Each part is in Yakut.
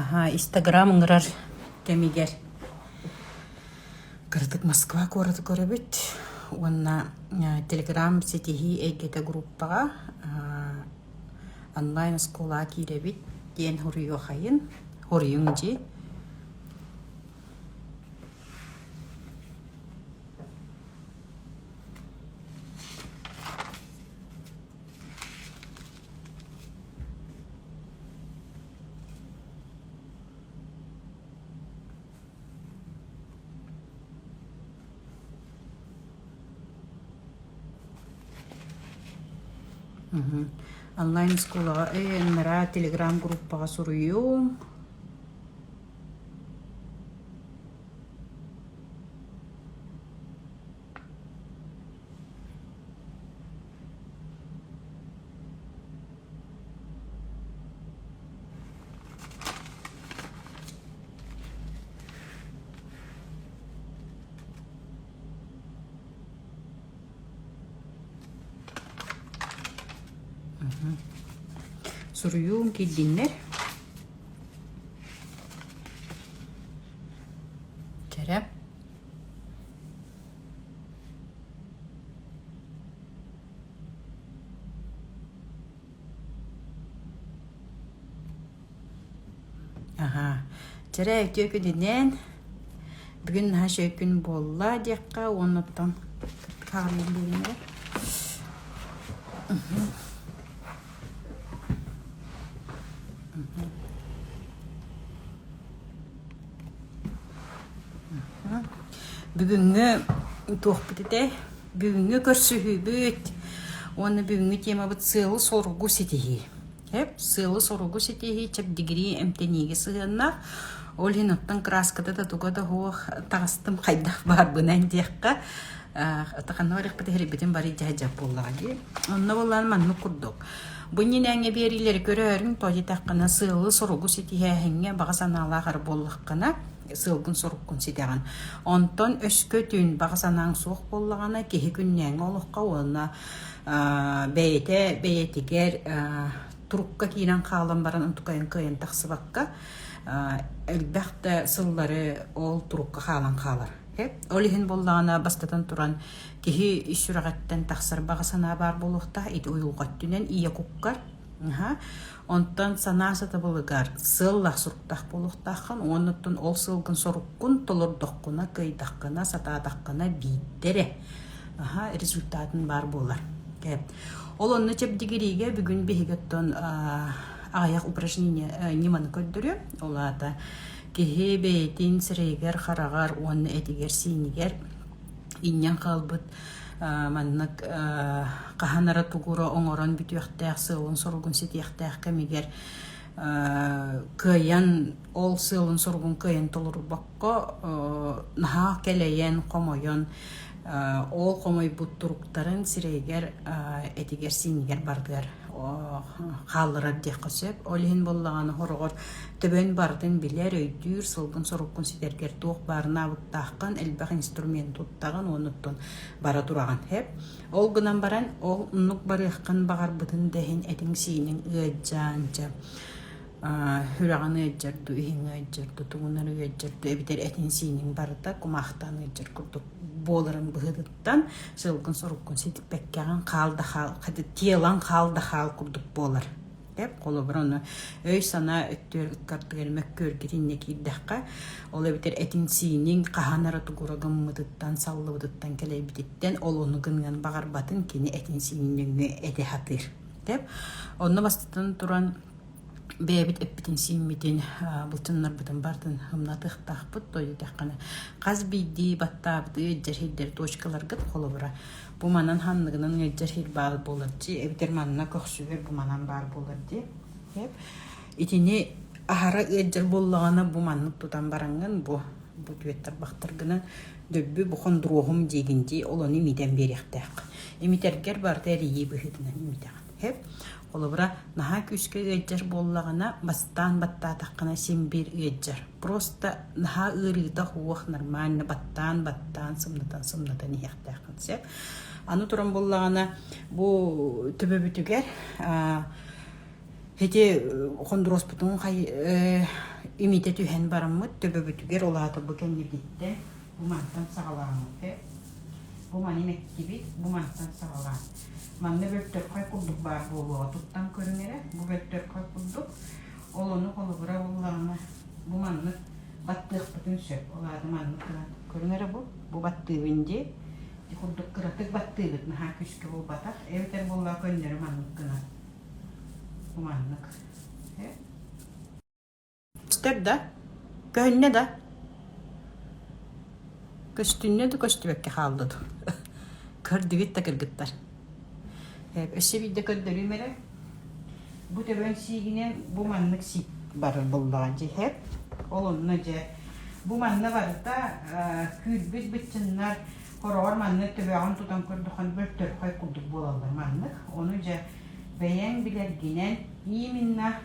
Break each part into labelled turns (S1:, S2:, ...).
S1: Аһаа, Инстаграм ыҥырар кэмигэр кыратык Москва куораты көрөбүт уонна Телеграм ситиһии эйгэтэ группаҕа онлайн оскуола киирэбит диэн хоруйуохайын хоруйуҥ дии Онлайн оскуолаҕа өйөннара телеграм-группаҕа суруйуум. Суруйуун килдиннэр. Кэрэ. Аха, чэрэ өтүөкүдүнэн бүгүн наһаа шөкүн буолла диэххэ уоннаттан хаарыйан биэримэ. бүгүҥҥү туохпут этэй бүгүҥҥү көрсүһүүбүт уонна бүгүҥҥү темабыт сыалы-соругу ситиһии эп сыалы-соругу ситиһии чэбдигирии эмтэниигэ сыһыаннаах ол иһин оттон краската да туга да уох таҕыстым хайдах баарбынан диэххэ ханна барыахпыт иһирбитин бары дьаһдьап буоллаҕа дии онно буоллаан маннык курдук Бу иннинээҥҥи биэриилэри көрөөрүҥ, то дитэххинэ сыалы-соругу ситиһээһиҥҥэ баҕа санаалаах эрэ буоллаххына, сыалгын-соруккун ситэҕин. Онтон өскөтүн баҕа санааҥ суох буоллаҕына, киһи күннээҥҥи олоххо уонна бэйэтэ бэйэтигэр турукка киирэн хаалан баран онтукайын кыайан тахсыбакка, элбэх да сыллары ол турукка хаалан хаалар. Ол иһин буоллаҕына бастатан туран Киһи ис сүрэҕиттэн тахсар баҕа санаа баар буолуохтаах ити уйулҕа өттүнэн ийэ куккар онтон санаа сатабылыгар сыаллаах суруктаах буолуохтааххын уонна оттон ол сыалгын соруккун толордоххуна кыайдаххына сатаатаххына биирдэрэ аха результатын баар буолар ол онно чэбдигириигэ бүгүн биһиги оттон аҕыйах упражнение э, ньыманы көрдөрүө ол аата киһи бэйэтин сирэйигэр хараҕар уонна этигэр сиинигэр Инньэн хаалбыт маннык хаһан эрэ тугура оҥорон бүтүөхтээх сыалын-соругун ситиэхтээх кэмигэр кыайан ол сыалын-соругун кыайан толорубакка наһаа кэлэйэн, хомойон ол хомойбут туруктарын сирэйигэр, этигэр-сиинигэр бардыар. хаалларар диэххэ сөп. Ол иһин буоллаҕына хороҕор төбөҥ барытын билэр, өйдүүр, сылгын-соруккун ситэргэр туох баарына абыктааххын, элбэх инструмент туттаҕын, оннуттан бара тураҕын сөп. Ол гынан баран ол оннук барыаххын баҕарбытын да иһин этиҥ-сииниҥ ыалдьаан дьэ Сүрэҕин ыалдьар дуу, иһин ыалдьар дуу, тугун эрэ ыалдьар дуу эбэтэр этин-сиинин барыта кумаахтаан ыалдьар курдук буоларын быһыытыттан сылгын-соруккун ситиппэккэҕин хаал да хаал тиэлэн хаал да хаал курдук буолар. Деп холобур ону өй-санаа өттүгэр ыккардыгар мөккүөргүт иннэ киирдэххэ ол эбэтэр этин-сиинин хаһан эрэ тугура гыммытыттан саллыбытыттан кэлэйбититтэн ол ону гыныан баҕарбатын кини этин-сиинин нөҥүө этэ сатыыр. Деп онно бастатан туран бэйэбит эппитин-сииммитин, былчыҥнарбытын бартын humнатыахтаахпыт, тоойуутаххына хас биирдии баттаабыты илдьэр сирдэр точкаларгыт холобура. Бу манан ханныгынан илдьэр сир баар буолар дии, эбэтэр манна көхсүгэр бу манан баар буолар дии. Эп. Итини аһара ыалдьар буоллаҕына бу маннык тутан бараҥҥын бу бу түөттэр-бахтаргынан дөббү бу хондуруоһум диигин дии олону имитэн биэриэхтээх. Имитэргэр барыта эрийии быһыытынан имитэҕин. Эп. Холобура, наһаа күүскэ ыалдьар буоллаҕына, бастаан баттаатаххына син-биир ыалдьар. Просто наһаа ыарыыта суох, нормально баттаан-баттаан, сымнатан-сымнатан иһиэхтээх концерт. Аны туран буллаҕына, бу төбөбүтүгэр ити хондуруоспутун хай имитэ түһэн бараммыт төбөбүтүгэр ол аата бу кэннибиттэн бу мантан саҕалааммыты, бу маны мэктибит, бу мантан саҕалаан Манна бөртөркөй курдук баар буолуоҕа туттан көрүҥ эрэ, бу бөртөркөй курдук. Ол ону холобура буллаҕына, бу маннык баттыахпытын сөп. Ол аата маннык гынан көрүҥ эрэ бу, бу баттыыбын дии. Ити курдук кыратык баттыыбыт, наһаа күүскэ буолбатах. Эбэтэр буоллаҕа көннөрү маннык гынан. Бу маннык. Көстөр да, көһүннэ да, көстүннэ да көстүбэккэ хааллыт. Көрдүгүт да кыргыттар. Өссө биирдэ көрдөрүм эрэ. Бу төбөн сиигинэн бу маннык сиик барар буллаҕа дьэ иһэт. Ол онно дьэ бу манна барыта күүрбүт быччыннар хороҕор маннык төбөҕүн тутан көрдөххө бөлтөрхөй курдук буолаллар маннык. Ону дьэ бэйэҥ билэргинэн именно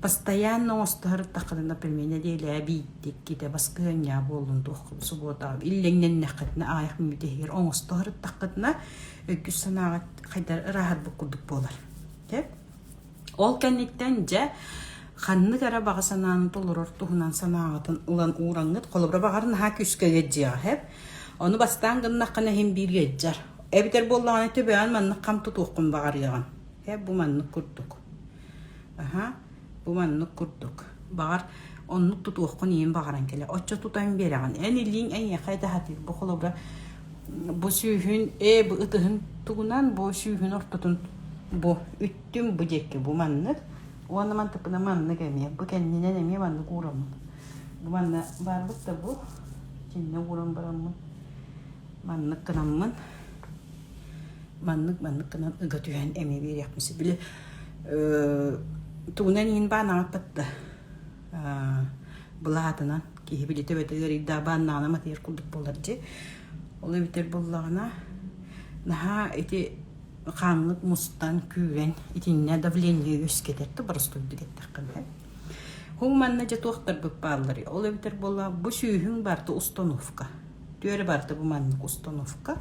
S1: Постоянно оҥостоһортаххытына пельменэ диэли биитиккитэ баскыһыанньа буоллун туоххут субуота иллэҥнэннэххитинэ аайах мүмүтэһигэр оҥостоһортаххытына өйгүс санааҕыт хайдар ырааһырбыт курдук буолар. Дэ ол кэнниттэн дьэ ханнык эрэ баҕа санааны толорор туһунан санааҕытын ылан уураҥҥыт холобура баҕар наһаа күүскэ ыйдьыаҕа хэп ону бастаан гыннаххына иһин биир ыйдьар эбитэр буоллаҕына төбөөн маннык хам тутуоххун баҕарыаҕын хэп бу маннык курдук аһа бу маннык курдук баҕар оннук тутуоххун иһин баҕаран кэлэ оччо тутан биэрэҕин эн илииҥ эйиэхэ даһатыыр бу холобура бу сүүһүн ээ бу ытыһын тугунан бу сүүһүн ортотун бу үттүм бу диэки бу маннык уонна мантыпына маннык эмиэ бу кэннинэн эмиэ маннык уураммын бу манна барбыт да бу кэннэ ууран бараммын маннык гынаммын маннык-маннык гынан ыга түһэн эмиэ биэриэхпин сөп били тугунан иин баан аҥаппат да былаатынан киһи били төбөтө ыарыйдаах баан наана матыйар курдук буолар дьи ол эбитэр буллаҕына наһаа ити хаанлык мустан күүрэн итиннэ давление үөскэтэр да боростуйду диэттэххинэ һуң манна дьэ туохтарбыт баалларый ол эбитэр буолла бу сүүһүн барта установка Түөрэ барыта бу маннык установка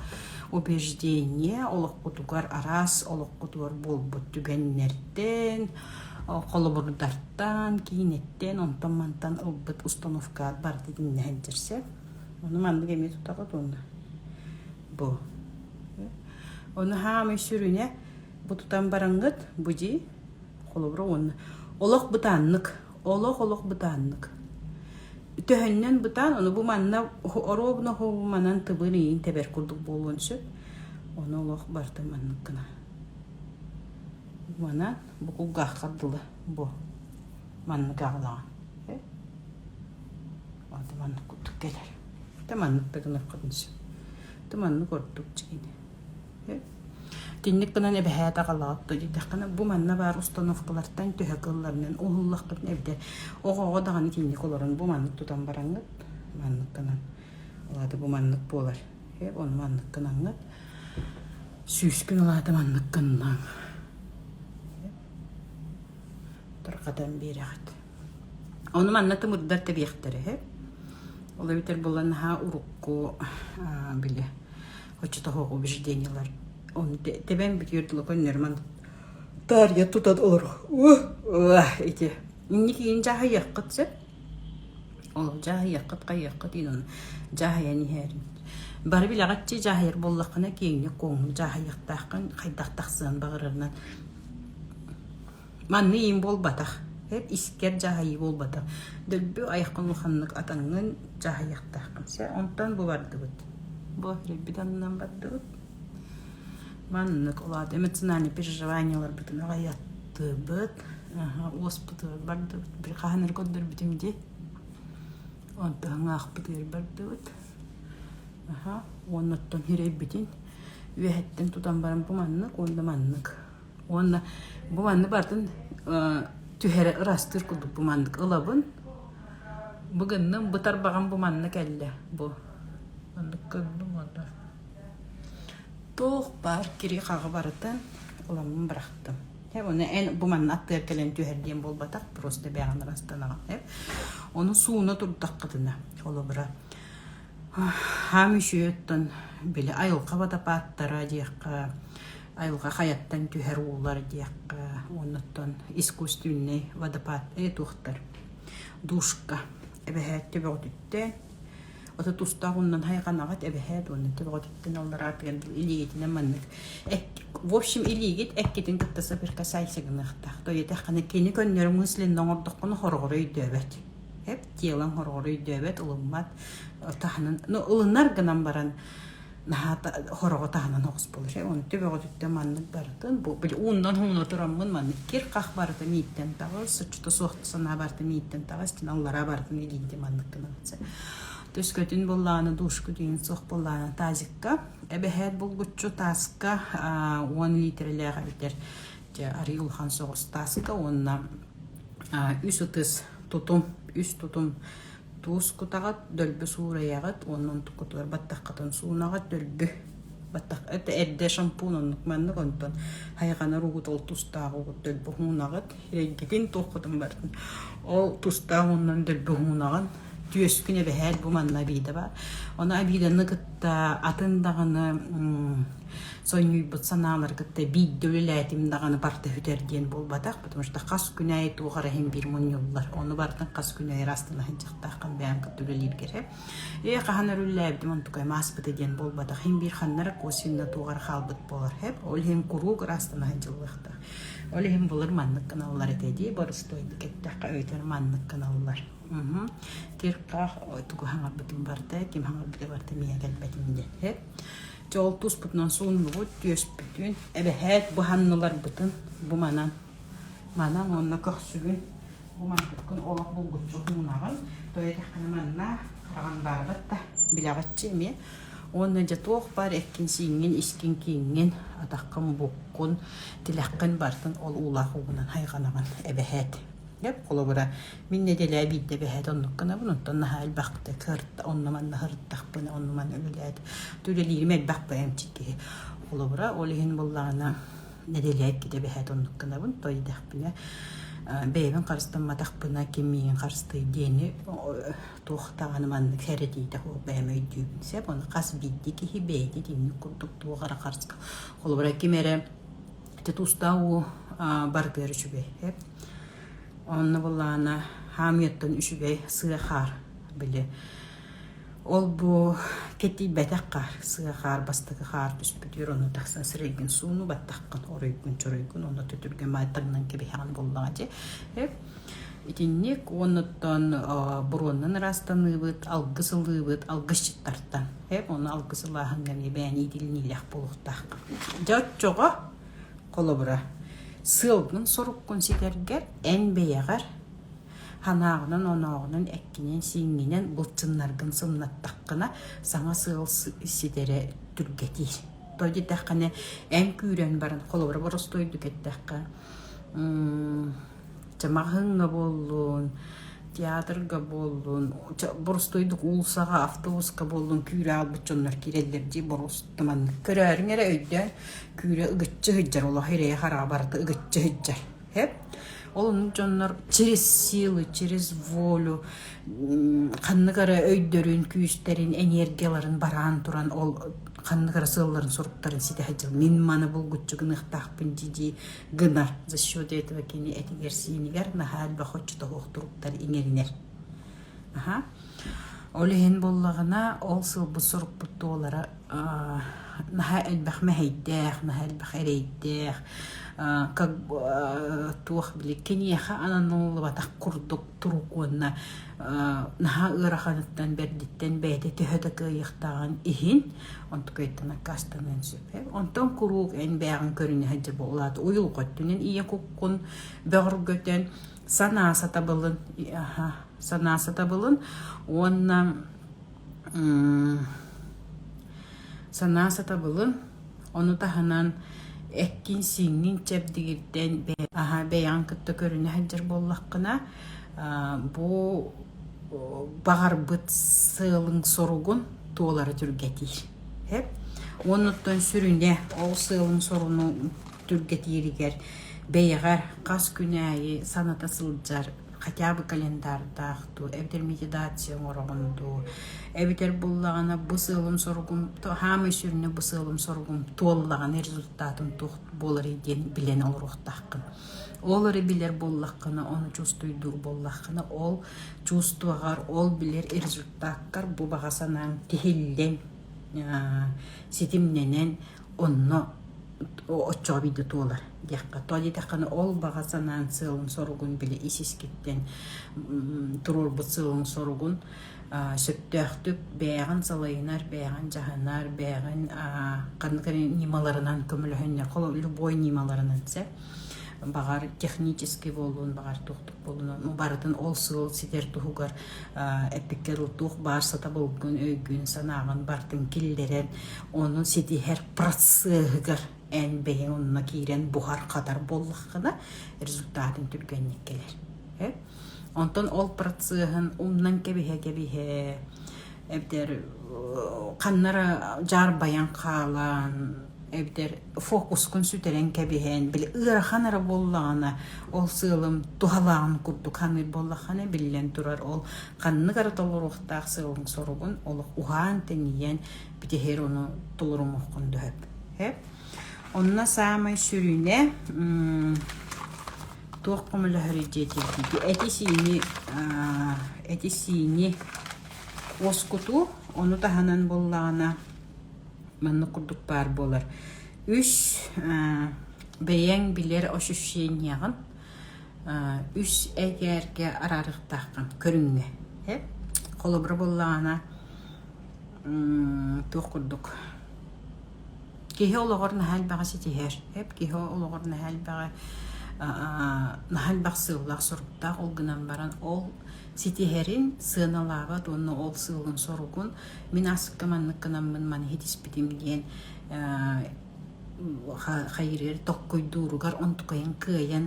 S1: убеждение олохпутугар араас олохпутугар буолбут түгэннэртэн, холобурдартан, киинэттэн, онтон-мантан ылбыт установка барыта тиҥнэһэн сирсэп. Ону маннык эмиэ тутаҕыт уонна бу. Ону хаамый сүрүнэ бу тутан бараҥҥыт бу дии холобура уонна олох бытааннык олох-олох бытааннык. Төһөннөн бытаан, ону бу манна оруобуна манан тыбыр иин тэбэр курдук буолуон сөп. Оны олох барты маннык гына. Манан бу кулгаахкардыла бу маннык ағылаған. Ады маннык курдук келер. Та маннык тагынып кадыншы. Ты маннык ордук чигини. Кинник гынан эбэһээтэ аҕалаатта дитэххинэ бу манна баар установкалартан төһө кылларынан уһуллахпытын эбитэ оҕоҕо даҕаны кинник олорон бу маннык тутан бараҥҥыт манныккынан алаата бу маннык буолар ону манныккынаҥҥыт сүүскүн алаата манныккыннаҥ тарҕатан биэрэҕит ону манна тымырдар тэбиэхтэрэ ол эбэтэр булан наһаа урукку били оччотоох убеждениялар тэбэн бүтүөр тула көннөрмөн таарыйа тута олор ити инникиин дьаһайыаххыт сөп ол дьаһайыаххыт хайыаххыт ин дьаһайан иһэрин бары билэҕитчи дьаһайар буоллаххына киэҥҥэ куоҥ дьаһайыахтааххын хайдах тахсыан баҕарарынан Манна иим буолбатах, эр искэр дьаһайыы буолбатах. Дөлбү айаххын улаханнык атаҥҥын дьаһайыахтааххын сэ онтон бу бардыбыт. Бу эрийбит аннынан бардыбыт. Маннык улаат эмоциональнай переживанияларбытын аҕыйаттыбыт, уоспутугар бардыбыт, били хаһан эрэ көрдөрбүтүм дии. Онтон аахпытыгар бардыбыт. Уонна оттон ньирэйбитин үөһэттэн тутан баран бу маннык уонна маннык. уонна бу манны бартын түһэрэ ырастыыр курдук бу маннык ылабын бу гынным бытар баҕам бу манна кэллэ бу оннук көрдүм онно туох баар кири хаҕы барытын уламмын бырахтым Эп оны эн бу манна аттыгар кэлэн түһэр диэн буолбатах просто бэҕэн ырастанаҕын эп оны сууна турдаххытына холобура хаам үсүөттон били айылҕа батапааттара диэххэ айылҕа хайаттан түһэр уулар диэххэ уонуттан искусственный водопад туохтар душка эбэһээт төбөҕүтүттэн ото тустаах уннан хайҕанаҕыт эбэһээт уонна төбөҕүтүттэн аллараатыган илиигитинэн маннык в общем илиигит эккитин кытта соприкасайся гыныахтаах тойотаххана кини көннөрү мысленно оҥордоххуна хороҕоро өйдөөбөт эп тиэлэн хороҕоро өйдөөбөт ылыммат таһынан ну ылынар гынан баран наһаа хороҕо таһынан оҕус болур онту бөҕөтүттэн маннык барытын бу били уундан хууна тураммын маннык кир-хах барыта мииттэн таҕыс соччото суох санаа барыта мииттэн таҕыс тин аллара барытын илиинти манныккынан төскөтүн буллааны душкутин суох буллааны тазикка эбэһээт булгуччу таска уон литрэлээх эбитэр же арий улахан соҕус таасыта уонна үс ытыс тутум үс тутум Туус кутаҕыт, дөлбө суурайаҕыт уонна онтуккутугар баттаххытын суунаҕыт, дөлбө баттах это эрдэ шампунь оннук маннык онтон хайҕанар угут ол тустаах угут дөлбө уунаҕыт эйгитин туоххутун бартын ол тустаах ууннан дөлбө уунаҕын түөскүн эбэһээт бу манна обида баар ону обиданы кытта атын даҕаны сонньуйбут санаалары кытта биирдэ үлэлээтим даҕаны барта бүтэр диэн буолбатах, потому что хас күн айы туох эрэ иһин биир мунньуллар. Ону бартын хас күн айы астына сынчахтааххын бэйэм кытта үлэлииргэрэ. Ээ хаһан өрүллээбитим онтукайым ааспыта диэн буолбатах. Хин биир ханнара косинна туоҕар хаалбыт болар хэп. Ол иһин куруук ырастана сынчыллыахтаах. Ол иһин булыр маннык кыналлар этэ дии борустуойду кеттэххэ өйтөр маннык кыналлар. Тирқах тугу хаңарбытым барта, ким хаңарбыта барта мия келбетим деді. Чол туспутунан сууннубут түөспүтүн, эбэһээт быһанныларбытын бу манан. Манан онно көхсүгүн бу манкыткын олох булгуччу мунаҕын, тойатаххына манна хараҕандаарбат да билэҕиччи эмиэ. Уонна дьэ туох бар эккин сииҥҥин искин кииҥҥин атаххын буккун тилэххин бартын ол уулаах угунан хайҕанабын эбэһээт. Деп холобура Мин нэдэлээ биирдэ бэһээт оннук гынабын, оттон наһаа элбэхтик сырытта, онно-манна сырыттахпына, оннуман үлэлээт, үлэлиирим элбэх бэйэмчик киһи олобура. Ол иһин буоллаҕына нэдэлээккитэ бэһээт оннук гынабын, той дэхпинэ бэйэбин харыстамматахпына ким миигин харыстыыр диэни туох даҕаны маннык сэрэтиитэ суох бэйэм өйдүүбүн сөп. Ону хас биирдии киһи бэйэтэ итинник курдук туох эрэ харыска. Холобура ким эрэ ити тустаах уу барытыгар үчүгэй. Онно былаана хаамыыттан үчүгэй сыа хаар били ол-бу кэтийбэтэххэ сыа хаар бастакы хаар түспүтүгэр ону тахсан сирэйгин суунуу баттаххын оруйгун чоруйгун онно төтүргэ маайтагынан кэбиһэҕин буоллаҕа дьи э итинник оннуттан буруоннан ыраастаныыбыт алгыс ылыыбыт алгысчыттартан э ону алгыс ылааһыҥҥа эмиэ бэйэни итилиниилэх буолуохтаах дьэ оччоҕо Холобура, сыалгын-соруккун ситэргэр, эн бэйэҕэр санааҕынан-онооҕунан, эккинэн-сииҥҥинэн былчыннаргын сымнаттаххына, саҥа сыал ситэрэ түргэтиир. Тоҕо диэтэххинэ, эн күүрэн баран, холобура, боростуойдук эттэххэ, Чэ маҕаһыыҥҥа буоллун, театрга буоллун, чэ боростуойдук уулуссаҕа, автобуска буоллун күүрэ хаалбыт дьоннор киирэллэр дии боруоста маннык. Көрөөрүҥ эрэ өйдөөн, күүрэ ыгыччы сылдьар, олоһо ирэйэ-хараҕа барыта ыгыччы сылдьар. Эп? Ол оннук дьоннор через силу, через волю ханнык эрэ өйдөрүн, күүстэрин, энергияларын бараан туран ол ханнык эрэ сыалларын-соруктарын ситэ сылдьар. Мин маны булгуччу гыныахтаахпын дии-дии гына за счет этого кини этигэр-сиинигэр наһаа элбэх оччото туруктар иҥэринэр аха ол иһин буллаҕына ол сылбыт сорукпут туолара наһаа элбэх мэһэйдээх наһаа элбэх эрэйдээх как туох били киниэхэ ананаллыбатах курдук турук уонна наһаа ыараханыттан бэрдиттэн бэйэтэ төһө да кыайыахтааҕын иһин онтукайтан аккаастаныан сөп. Онтон куруук эн бэйэҕин көрүнэ сылдьар буолаат, уйулҕа өттүнэн ийэ куккун бөҕөргөтөн, санаа сатабылын, санаа сатабылын уонна санаа сатабылын, ону таһынан эккин-сииҥҥин чэбдигирдэн аһа бэйэҕин кытта көрүнэ сылдьар буоллаххына бу баҕарбыт сыалың соругун туолара түргэтиир оннуттан сүрүнэ ол сыалың соруну түргэтииригэр бэйэҕэр хас күн аайы саната сылдьар хотя бы календардаах дуу эбэтэр медитация оҥороҕун дуу эбэтэр буллаҕына бу сыалым соругум саамай сүрүнэ бу сыалым соругум туоллаҕына результатым туох буоларый диэн билэн олоруохтааххын Ол эрэ билэр буоллаххына, ону чувствуйдуур буоллаххына, ол чувствоҕар, ол билэр результаттар бу баҕа санааҥ тиһиллэн, ситимнэнэн онно оччоҕо биирдэ туолар диэххэ. Тоҕо диэтэххинэ, ол баҕа санааҥ сыалын-соругун били ис-искиттэн туруорбут сыалын-соругун сөптөөхтүк бэйэҕин салайынар, бэйэҕин дьаһанар, бэйэҕин ньымаларынан көмөлөһүннэр, любой ньымаларынан сөп. Баҕар технический буолуон, баҕар туохтук буолуон, ну барытын ол сыал ситэр туһугар эппиккэр туох баар сатабылгын, өйгүн, санааҕын барытын киллэрэн, ону ситиһэр процеһыгар эн бэйэҥ онно киирэн буһар-хатар буоллаххына результатын түргэнник кэлэр. Онтон ол процеһын умнан кэбиһэ-кэбиһэ эбдэр ханнара дьаарбайан хаалан эбдэр фокускун сүтэрэн кэбиһэн били ыарахан эрэ буоллаҕына ол сыалым туһалааҕын курдук ханыыр буоллаххына биллэн турар ол ханнык эрэ толоруохтаах сыалыҥ соругун олох уһаан тэнийэн бүтэһиэр ону толорумуоххун дөһөт Онно саамай сүрүнэ туох көмөлөһөрүй диэтиитиити эти-сиини эти-сиини уоскутуу, ону таһынан буоллаҕына маннык курдук баар буолар. Үс бэйэҥ билэр ощущениеҕын үс этээргэ араарыахтааххын көрүҥҥэ. Холобура буоллаҕына туох курдук Киһи олоҕор наһаа элбэҕи ситиһэр. Эр киһи олоҕор наһаа элбэҕи наһаа элбэх сыаллаах-соруктаах, ол гынан баран ол ситиһэрин сыаналаабат уонна ол сыалын-соругун мин аскы маннык гынаммын маны ситиспитим диэн хайыырыгар токкуйдууругар онтукайан кыайан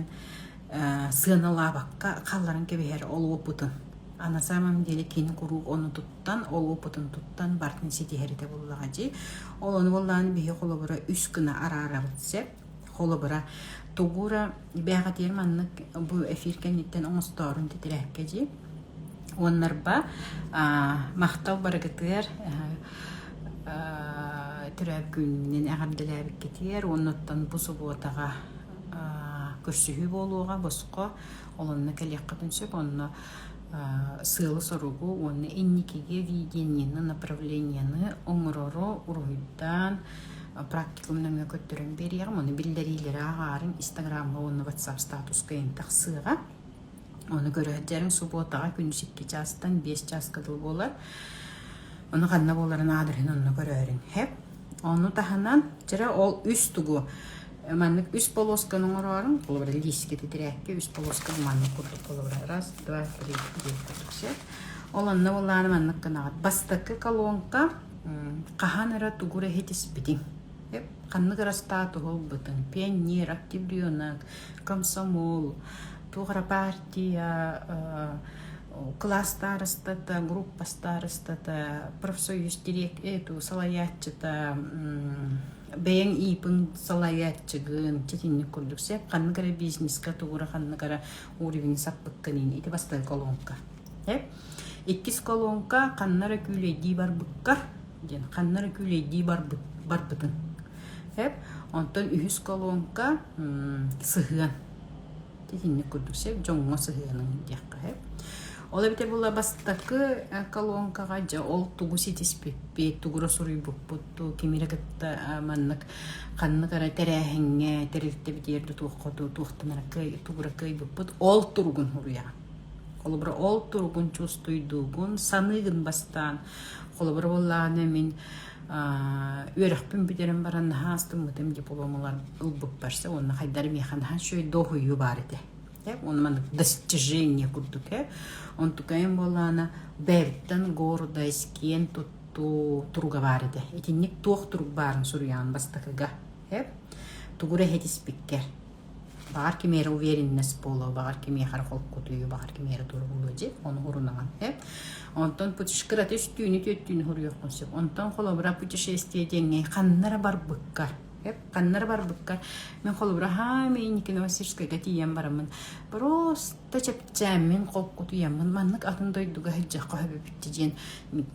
S1: сыаналаабакка хаалларан кэбиһэр ол уопутун. А на самом деле кини куруук ону туттан, ол опытын туттан бартын ситиһэрите буллаҕа дьи. Ол ону боллаан биһи холобура үс гына араарабыт сеп. Холобура тугура бэхэтиэр маннык бу эфир кэнниттэн оҥостоорун титирээкке дьи. Уоннарба махтал барыгытыгар түрөөккүннүн эҕэрдэлээбиккитиэр уоннаттан бу субуотаҕа көрсүһүү буолуоҕа босхо олонно кэлиэххитин сөп онно сыалы-соругу уонна инникиги видениены направлениены оҥорору уруһуйдаан практикум нөҥүө көттөрөн биэриэҕим ону биллэриилэри ааҕаарыҥ инстаграмга уонна ватсап статуска эн тахсыаҕа ону көрө сылдьарыҥ субуотаҕа күн сикки чаастан биэс чааска дылы буолар ону ханна буоларын аадырыһын онно көрөөрүҥ сөп ону таһынан чэрэ ол үс тугу маннык үс полосканы оҥорорум холобура лиискэ титирээккэ үс полоска маннык курдук холобура раз два три четыре четыре ол онно буоллаары маннык гынаҕыт бастакы колонка хаһан эрэ тугур эһитиспитиҥ ханнык эрэ статуһулбутун пионер активленок комсомол туох эрэ партия кылаас старостата группа старостата профсоюз директ эту салайааччыта бэйэҥ иипин салайааччыгын ситинник курдук сеп ханнык эрэ бизнеска тугура ханнык эрэ уровень саппыккынын ити бастакы колонка иккис колонка ханна эрэ күүлэйдии барбыккар диэн ханна эрэ күүлэйдии барбыт барбытын эп онтон үһүс колонка сыһыан итинник курдук сөп дьоҥҥо сыһыанын диэххэ сөп ол эбитэ була бастакы э, колонкаҕа дьэ ол тугу ситиспиппит тугура суруйбуппут кимире кытта маннык ханнык эрэ тэрээһиҥҥэ тэрилтэ битиэрдэ туоххо туохтанара кый тугура кыйбыппыт ол туругун суруйаҕын холобура ол туругун чувствуйдуугун саныыгын бастаан холобура буоллаҕына мин үөрэхпин бүтэрэн баран наһаа астыммытым дипломалар ылбыппарса уонна хайдары миэхэ наһаа үчүгэй дооһуйуу баар этэ э он маны достижение курдук э он тукаем буолаана бэйэбиттэн гордо искиэн туттуу туруга баар этэ итинник туох турук баарын суруйаан бастакыга э тугура иһитиспиккэр баҕар ким эрэ уверенность буолуо баҕар кимиэхэ эрэ холкутуйуу баҕар ким эрэ тура буолуо дьи ону урунаҕын сөп онтон кырата үстүүнү түөттүүнү хоруйуоххун сөп онтон холобура путешествие диэҥҥэ ханна эрэ барбыкка сөп ханна эрэ барбыкка мин холобура аһаан мин инники новосибирскайга тиийэн бараммын просто чэпчээммин холкутуйаммын маннык атын дойдуга сылдьыахха сөп эбит дии диэн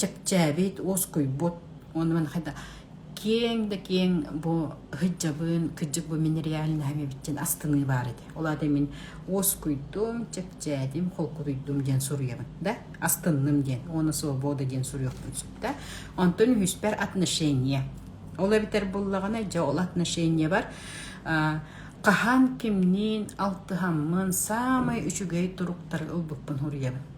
S1: чэпчээбит уоскуйбут уонна маны хайда киэҥ да киэҥ бу ыһыддьабын кырдьык бу мин реальноһым эбиттин астыныы баар этэ ол аата мин уоскуйдум чэпчээтим холкутуйдум диэн суруйабын да астынным диэн уона свобода диэн суруйуохпун сөп да онтон үһүспэр отношения ол эбитэр буллаҕына дьэ ол отношения бар хаһан кимниин алтыһаммын саамай үчүгэй туруктары ылбыппын уруйабын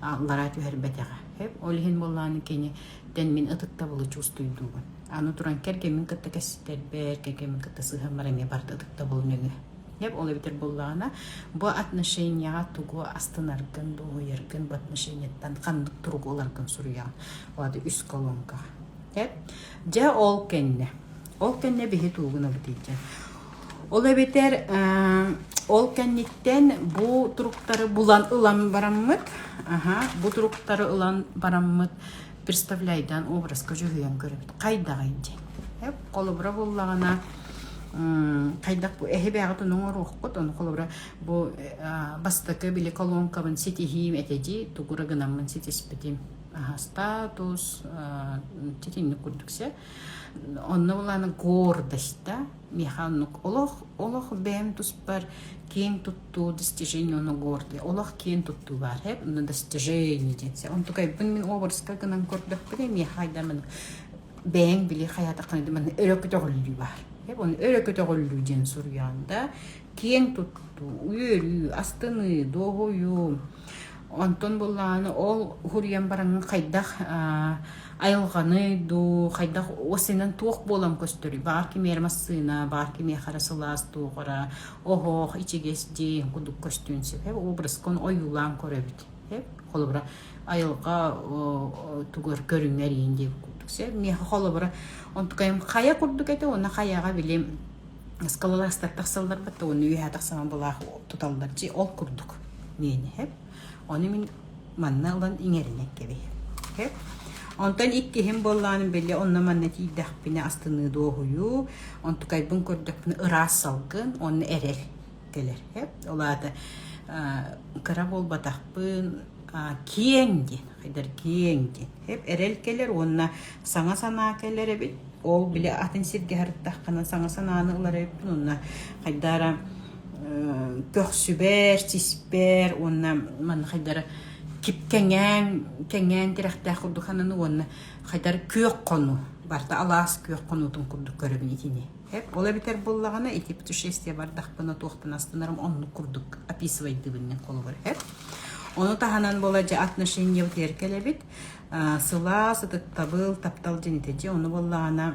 S1: аллараа түһэрбэтэҕэ. Ол иһин буоллаан кини тэн мин ытыктабылы чувствуйдуубун. Аны туран кэргэмин кытта кэсситтэрбэр, кэргэмин кытта сыһыан бар эмиэ барыта ытыктабыл нөҥүө. Дьэ ол эбэтэр буоллаҕына бу отношенияҕа тугу астынаргын, дуоһуйаргын бу отношенияттан ханнык туругу ыларгын суруйаҕын. Вады үс колонка. Дьэ ол кэннэ ол кэннэ биһи туугунабыт ийдьэн Ол эбэтэр ол кэнниттэн бу туруктары булан ылан бараммыт, аһа, бу туруктары ылан бараммыт представляйдан образка дьүһүйэн көрөбүт. Хайдаҕый дии. Эп, холобура буллаҕына хайдах бу эһибээҕит ону оҥоруоххут, ону холобура бу бастакы били колонкабын ситиһиим этэ дии, тугу гынаммын ситиспитим. Аһа, статус, титинник курдук сэ. Онно булааны гордость-да, миэхэ оннук олох олох бэйэм туспар киэҥ туттуу достижение оно гордый олох киэҥ туттуу баар эп но достижение дитсе онтукайбын мин образка гынан көрдөхпүнэ миэхэ айдамын бэйэң били хаятакканы дыман өрө көтөҕүллүү баар эп оны өрө көтөҕүллүү диэн суруйаанда киэҥ туттуу үөрүү астыныы дооһойуу Онтон буллааны ол уһуруйан бараҥҥа хайдах айылҕаны дуу, хайдах осинан туох буолан көстөрүй? Баар кимиэрэ массыына, баар кимиэхэ эрэ сылаас туоҕара, оһох, ичигэс дьиэ кудук көстүөн сөп. Эб образка ону ойуулаан көрөбүт. Эб холобура айылҕа тугар көрүҥэр иин диэки курдук. Эб миэхэ холобура онтукайым хайа курдук этэ уонна хайаҕа били ыскалалаастар тахсалларбыт то уонна үөһэ тахсама былаах туталлар дьи ол курдук миэни хэп ону мин манна ылан иҥэринэн кэбиһ хэп онтон иккиһим буолланым били онно манна тиийдэхпинэ астыныы дуоһуйуу онтукайбын көрдөхпүнэ ыраас салгын онно эрэл кэлэр хэп ол аата кыра буолбатахпын киэҥ диэн хайдар киэҥ диэн хэп эрэл кэлэр уонна саҥа санаа кэлэр эбит. Ол били атын сиргэ сырыттаххына саҥа санааны ылар эбиппин уонна хайдара көхсүбэр, сиспэр уонна манна хайдара кип кэҥээн кэҥээн тирэхтээх курдук хананы уонна хайдар күөх хону барта алаас күөх хонуутун курдук көрөбүн итини ол эбитэр буллаҕына ити путешествие бардахпына туохтан астынарым оннук курдук описывайдыбыннын холобур хэп ону таһынан бола же отношение кэлэбит сылаас ытыктабыл таптал дьинитичи ону буоллаҕына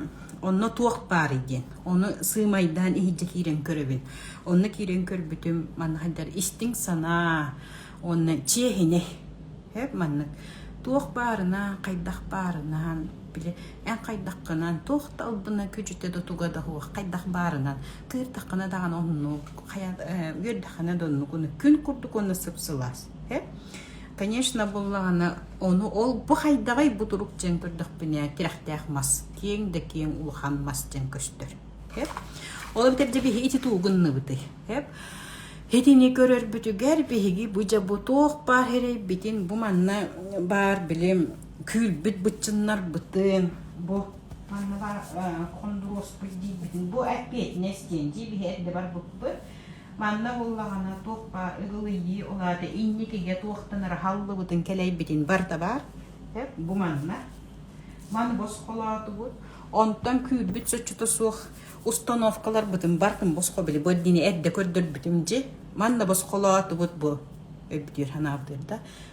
S1: онно туох баарый диэн ону сыымайдаан иһирдьэ киирэн көрөбүн онно киирэн көрбүтүм манна хайдар истиҥ санаа уонна чиэһинэй эп маннык туох баарына хайдах баарынан били эн хайдаххынан туох да албына күчүтэ да туга да хуох хайдах баарынан тыырдаххына даҕаны оннук хайа үөрдэххинэ да оннук күн курдук онно сып-сылаас эп Конечно, буллаҕына ону ол бу хайдаҕый бу турук дьиэн көрдөхпүнэ тирэхтээх мас киэҥ да киэҥ улахан мас дьиэн көстөр. Хэп. Ол битэрдэ биһи ити туугунныбыты. Хэп. Итини көрөрбүтүгэр биһиги бу дьабу туох баар эрэйбитин бу манна баар били күүлбүт бытчыннарбытын бу манна бар хондуруоспут диибитин бу эппиэтинэс диэн дии биһи эрдэ барбыппыт Манна буоллаҕына туох баар ыгылыйыы, ол аата инникигэ туохтанара аһаллыбытын кэлэйбитин бар да баар. Бу манна. Маны босхолоотубут. Онтон күүрбүт соччото суох установкаларбытын бартын босхо били бу эрдини эрдэ көрдөрбүтүм дьи. Манна босхолоотубут бу өбүтүр ханаабытыр да.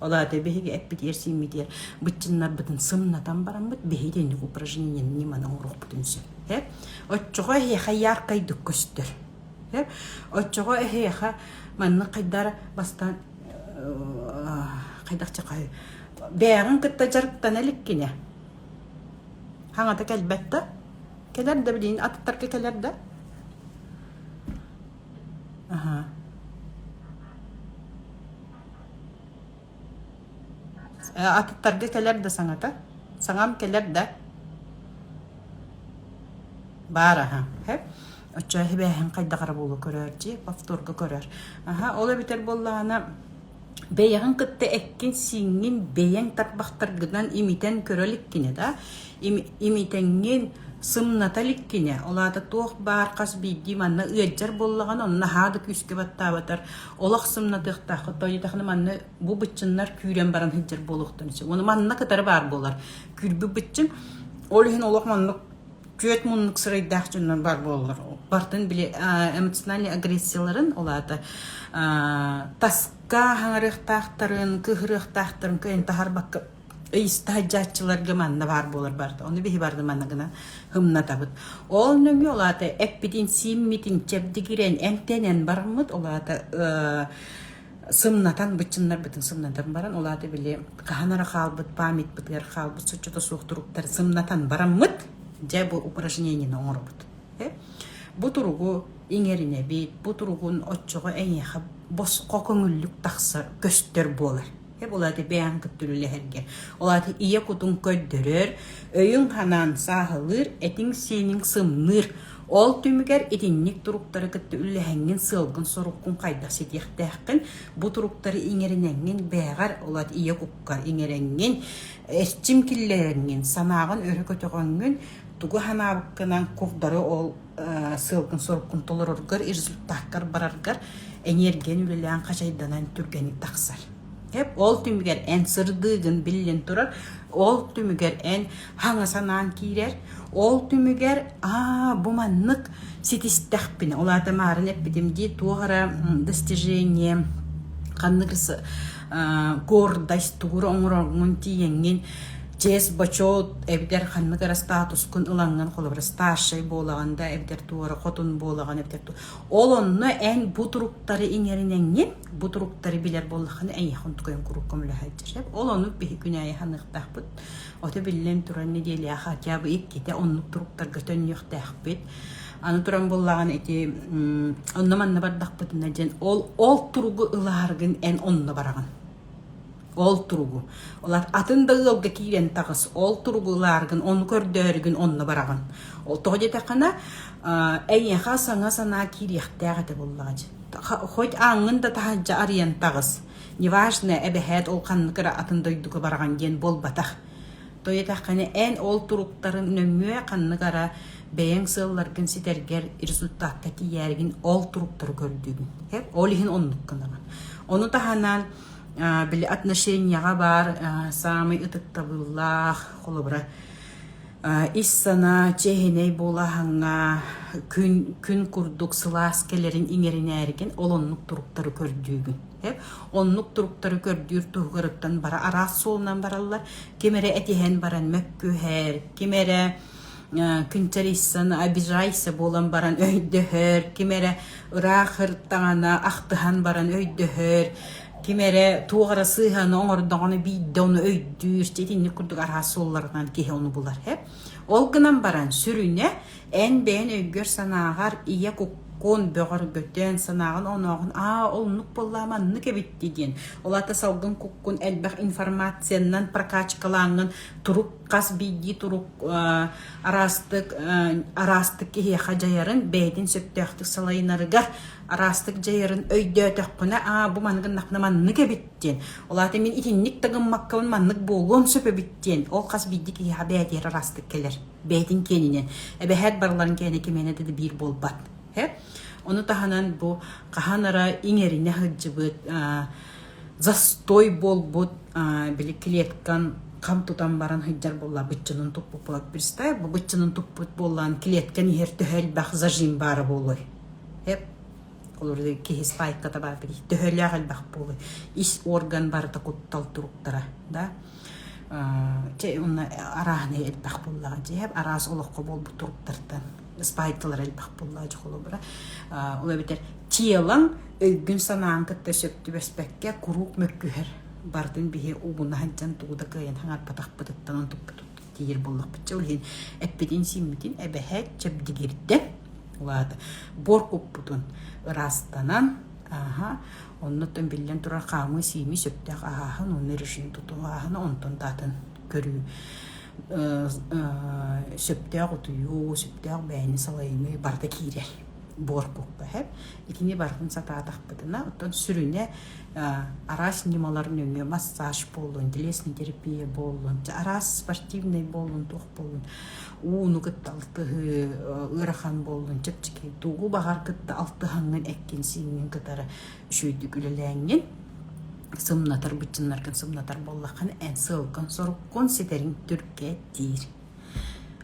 S1: Ол аата биһиги эппит эрсииммитигэр быччыннарбытын сымнатан бараммыт биһиги инник упражнение ньыманы оҥоруохпутун сөп. Оччоҕо эһиэхэ яаркайдык көстөр. Оччоҕо эһиэхэ маннык хайдара бастаан хайдах чахай бээҕин кытта дьарыктана иликкинэ хаҥата кэлбэт да кэлэр да билин атыттарга кэлэр да аха Атыттарга кэлэр да саҥата? Саҥам кэлэр да? Баар аһа. Оччо сибээһин хайдах эрэ буола көрөөр дии, повторга көрөр. Аһа, ол эбитэр буоллаҕына, бэйэҕин кытта эккин-сииҥҥин бэйэҥ тарбахтаргынан имитэн көрө иликкинэ да, имитэҥҥин сымната иликкинэ, ол аата туох баар хас биирдии манна ыалдьар буоллаҕына, он наһаа да күүскэ баттаабатар, олох сымнатыахтаах хатойутахны манна бу быччыннар күүрэн баран сылдьар буолуохтан сөп оны манна кытары баар буолар күүрбү быччын ол иһин олох маннык күөт муннук сырайдаах дьоннор бар буоллар бартын били эмоциональный агрессияларын олаата таска хаҥарыахтаахтарын кыһырыахтаахтарын кыйын таһарбакка ыйыста сылдьааччыларга манна баар буолар барыта ону биһи барды манна гынан хымнатабыт ол нөҥү ол аата эппитин сииммитин чэбдигирэн эмтэнэн бармыт ол аата сымнатан быччыннарбытын сымнатан баран ол аата били хаһанара хаалбыт памятпытыгар хаалбыт суччото суох туруктары сымнатан бараммыт дьэ бу упражнениені оҥоробут бу туругу иҥэринэбит бу туругун оччоҕо эйиэхэ босхо көҥүллүк тахсар көстөр буолар Һэп ол аата бэйэҥ кыттыр үлэһэргэ. Ол аата ийэ кутуҥ көрдөрөр, өйүҥ-ханаҥ сааһылыыр, этиҥ-сиэниҥ сымныыр. Ол түмүгэр итинник туруктары кытта үллэһэҥҥин, сыалгын-соруккун хайдах ситиэхтээххин, бу туруктары иҥэриниҥҥин бэҕэр, ол аата ийэ кукка иҥэриҥҥин, эрчим киллэриҥҥин, санааҕын өрө көтөҕөҥҥүн, тугу санаабыккынан курдары ол сыалгын-соруккун толороргор, результаттар бараргар эниэргийэн үлэлээн хачайданан түргэнник тахсар. Эп ол түмүгэр эн сырдыыгын биллин турар, ол түмүгэр эн хаҥа санаан киирэр, ол түмүгэр аа бу маннык ситистэхпинэ, ол аата маарын эппитим дии туох эрэ достижение ханнык гордость тугура оҥороҥҥун тиийэҥҥин чиэс бочуот эбэтэр ханнык эрэ статускун ылаҥҥын холобура старшай буолаҕын да эбэтэр туора хотун буолаҕын эбэтэр ол онно эн бу туруктары иҥэринэҥҥин бу туруктары билэр буоллаххына эйиэхэ онтукайын куруук көмөлөһөөччү сөп ол ону биһи күн аайы ханыахтаахпыт ото биллэн туран нэдиэлээх хотя бы иккитэ оннук туруктарга төннүөхтээхпит аны туран буоллаҕын ити онно манна бардахпытына диэн ол ол туругу ылааргын эн онно бараҕын Ол туругу, атын да ыалга киирэн таҕыс, ол туругу ылааргын, ону көрдөөрүгүн, онно бараҕын. Ол тоҕо диэтэххинэ, эйиэхэ саҥа санаа киириэхтээх этэ буоллаҕа дии. Хоть ааҥҥын да таһырдьа арыйан таҕыс, неважно, эбэһээт ол ханнык эрэ атын дойдуга бараҕын диэн буолбатах. Тойотоххуна эн ол туруктарын нөҥүө ханнык ara бэйэҥ сыалларгын ситэргэр результатка тиийээргин ол туруктары көрдүгүн. Ол иһин оннук гынабын. Ону таһынан били отношенияҕа баар саамай ытыктабыллаах холобура ис санаа чэһинэй буолаһаҥҥа күн күн курдук сылаас кэлэрин иҥэринээргин ол оннук туруктары көрдүүгүн. Оннук туруктары көрдүүр туһугар бара араас суолунан бараллар ким эрэ этиһэн баран мөккүһэр, ким эрэ күнчэрийсэн обижайся буолан баран өйдөһөр, ким эрэ ыраах ыртаҕана ахтыһан баран өйдөһөр, ким эрэ туох эрэ сыһыаны оҥордоҕуна биирдэ ону өйдүүр, итинник курдук араас суолларынан киһи ону булар. Ол гынан баран сүрүнэ Эн бэйэн өйгөр-санааҕар ийэ куккун бөҕөргөтөн, санааҕын онооҕун аа оннук буоллаа маннык эбитти диэн. Ол аата салгын куккун элбэх информациянан прокачкалаангын турук хас биирдии турук араастык араастык киһиэхэ дьайарын бэйэтин сөптөөхтүк салайынарыгар араастык дьайарын өйдөөтөхпүнэ аа бу маннык гыннахпына маннык эбиттиэн ол аата мин итинник тагыммаккабын маннык буолуон сөп эбиттиэн ол хас биирдии киһиэхэ бэйэтигэр араастык кэлэр бэйэтин киэнинэн эбэһээт барыларын киэнэ кимиэнэ да биир буолбат э? ону таһынан бу хаһан ара иҥэринэ сылдьыбыт застой буолбут били клеткан хам тутан баран сылдьар буолла быччынын туппуппут представь бу быччынын туппут буоллаан клеткан иһэр төһө элбэх зажим баара буолуой Олор киһи спайката баар төһөлөөх элбэх буолуй ис орган барыта куттал туруктара да чэ онно арааһынай элбэх буоллаҕа дьиэ араас олоххо буолбут туруктартан спайкталара элбэх буоллаҕа дьэ холобура ол эбэтэр телаҥ өйгүн санаан кытта сөп түбэспэккэ куруук мөккүһэр барытын биһи угуна сылдьан тугу да кыайан хаҥарпатахпытыттан онтукпутут тиийэр буоллахпытча ол иһин эппитин-сииммитин эбэһэт чэбдигирдэ улаата буор куппутун ыраастанан ааха оннуттан биллэн турар хаамыы сиими сөптөөх ааһан онно решин тутуу ааһан онтон даатын көрүү сөптөөх утуйуу сөптөөх бээни салайыныы барыта киирэр буорпукпаһыт итини барытын сатаатахпытына оттон сүрүнэ араас ньымалар нөҥүө массаж буоллун телесный терапия буоллун араас спортивнай буоллун туох буоллун ууну кытта алтыһыы ыарахан буоллун чэпчэки тугу баҕар кытта алтыһаҥҥын эккин-сииҥҥин кытары үчүгэйдик үлэлээҥҥин сымнатар быччыннаргын сымнатар буоллаххына эн сыалкын соруккун ситэриҥ түргэ диир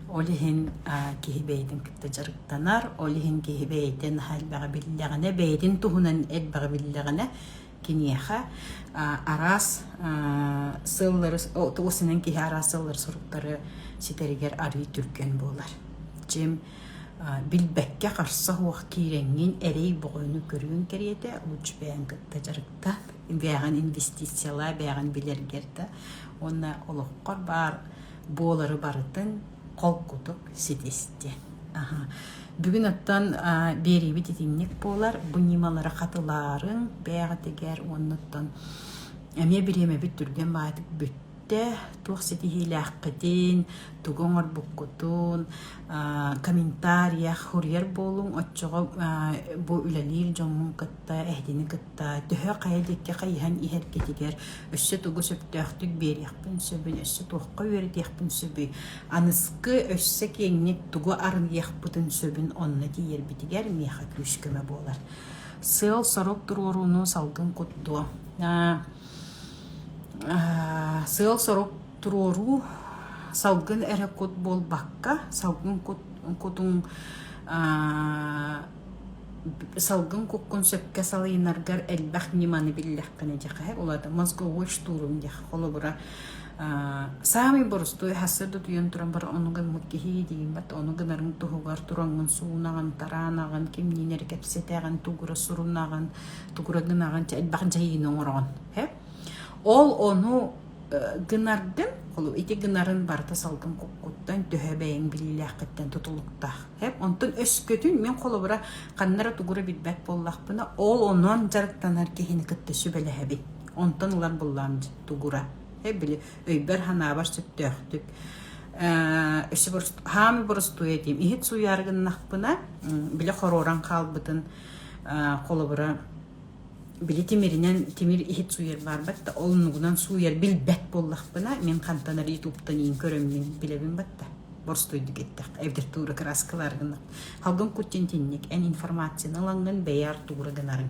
S1: Ол иһин киһи бэйэтин кытта дьарыктанар, ол иһин киһи бэйэтин хайдах биллэҕинэ, бэйэтин туһунан элбэҕи биллэҕинэ киниэхэ араас сыаллары ол сэнэн киһи араас сыаллары соруктары ситэригэр арыый түргэн буолар. Чим билбэккэ харса суох киирэҥҥин эрэй бөҕөнү көрүөн кэриэтэ лучше бэйэҥ кытта дьарыктан, бэйэҕин инвестициялаа, бэйэҕин билэргэр да уонна олоххор баар буолары барытын холкутук ситисти. Бүгүн оттон биэриибит итинник буолар. Бу ньымалары хатылаарың бэйэҕитигэр уоннуттан эмиэ бириэмэбит түргэн баатык бүттэ. Туох ситиһиилээххитин, тугу оҥорбуккутун, комментария, хуруйар буолуҥ, оччоҕо бу үлэлиир дьоҥҥун кытта эһэтини кытта төһө хайа диэки хайыһан иһэргитигэр өссө тугу сөптөөхтүк биэриэхпин сөбүй өссө туохха үөрэтиэхпин сөбүй аныскы өссө киэҥник тугу арыйыахпытын сөбүн онно тиийэрбитигэр миэхэ күүс-көмө буолар сыал-сорук туруорууну салгын куттуо сыал-сорук туруоруу салгын эрэ кут буолбакка салгын кутуҥ Салгын куккун сөпкө салыйынаргар элбэх ньыманы биллэххинэ дьэхэһэ улаата мозговой штурум диэххэ холобура саамай борустуой сарсыарда утуйан туран баран ону гыммыт киһи иидийиммэт ону гынарыҥ туһугар тураҥҥын суунаҕын тараанаҕын кимниин эрэ кэпсэтэҕин тугура сурунаҕын тугура гынаҕын элбэх дьайыыны оҥороҕун Ол ону гынардым, ити гынарын барыта салгын куккуттан төһө бэйэҥ билиилээххиттэн тутулуктаах. Онтон өскөтүн мин холобура ханна эрэ тугура билбэт буоллахпына, ол онон дьарыктанар киһини кытта сүбэлэһэбин. Онтон ылар буллаҕым тугура. Били өйбөр-санаабар сөптөөхтүк өссө хаһан боростуой этиим иһит сууйаары гыннахпына, били хоруоран хаалбытын холобура били тимиринэн тимир иһит сууйар баарбат да ол оннугунан сууйар билбэт буоллахпына мин хантан арыйы туптаниин көрөммүн билэбин батта борстойдук эттэххэ эбдер туура краскылар гынна халгын кутчин тинник эн информацияны ылаҥҥын бэйэр туура гынарыҥ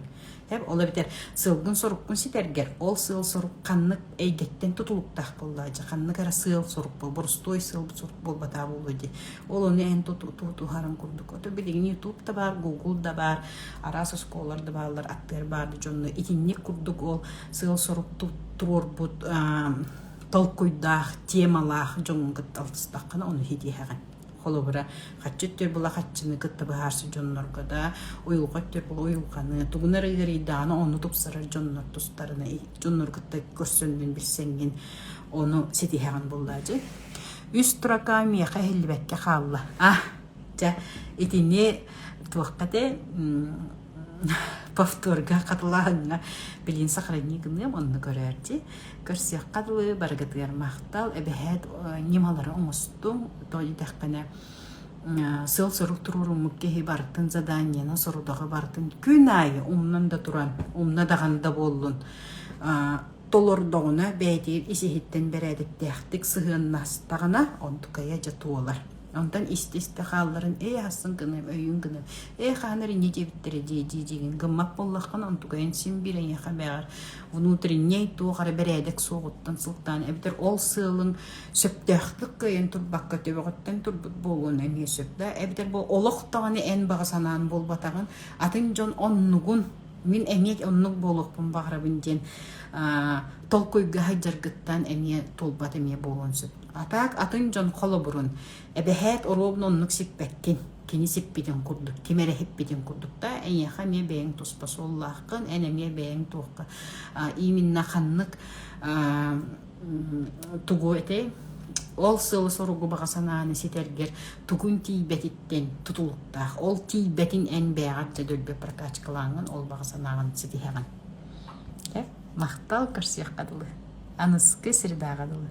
S1: тэп ола битэр сылгын соруккун ситэргэр ол сыал сорук ханнык эйгэттэн тутулуктаах буоллаа же ханнык эрэ сыал сорук борстой сыал сорук буолбатаа буолуо ди ол ону эн тутуһарын курдук ото билигини ютуб да баар гугл да баар араас оскуолалар да бааллар аттыар баар дьонно итинник курдук ол сыал-сорук туруорбут толкуйдаах темалаах дьоҥҥун кытта алтыстаххына ону хитиһэҕин холобура хаччы төр була хаччыны кытта быһаарсар дьоннорго да уйулҕа төр була уйулҕаны тугунар ыарыйдаҕына ону тупсарар дьоннор тустарына дьоннор кытта көрсөҥҥүн билсэҥҥин ону ситиһэҕин буллаа дьи үс строка миэхэ иһиллибэккэ хаалла а Чэ, итини туохха те повторга хатылааһыҥҥа билин сохранигыныам онну көрөөччү көрсүөххэ дылы барыгытыгар махтал эбэһээт ньымалары оҥостуҥ тонитэхпинэ сыал-сорук туруоруммут киһи барытын заданиена сорудоҕо бартын күн аайы умнан да туран умна даҕан да буоллун толордоҕуна бэйэтин ис иһиттэн бэрээдэктээхтик сыһыаннастаҕына онтукайа дьэ туолар Онтон истэ-истэ хаалларын ээ асын гыным, өйүн гыным. Ээ хаанар иньи диэбиттэрэ дии дии диигин гыммат боллоххун онтугайын син бир эйиэхэ бэҕэр внутренней туох эрэ бэрээдэк суоҕуттан сылтаан эбэтэр ол сыалын сөптөөхтүк кыайан турбакка төбөҕүттэн турбут буолуон эмиэ сөп да эбэтэр бу олохтоҕуна эн баҕа санаан буолбатаҕын атын дьон оннугун мин эмиэ оннук буолуохпун баҕарабын диэн толкуйга сылдьаргыттан эмиэ туолбат эмиэ буолуон сөп Атаак атын дьон холобурун, эбэһээт оруобун оннук сиппэккин, кини сиппитин курдук, ким эрэ сиппитин курдук да, эйиэхэ эмиэ бэйэҥ туспа суоллааххын, эн эмиэ бэйэҥ туохха а, ииминна ханнык а, тугу этэй ол сыалы-соругу баҕа санааны ситэргэр тугун тиийбэтиттэн тутулуктаах. Ол тиийбэтин эн бэйэҕэр төлбө прокачкалааҥын, ол баҕа санааҕын ситиһэҕин. Махтал көрсүөххэ дылы. Аныскы сирдээҕэ дылы.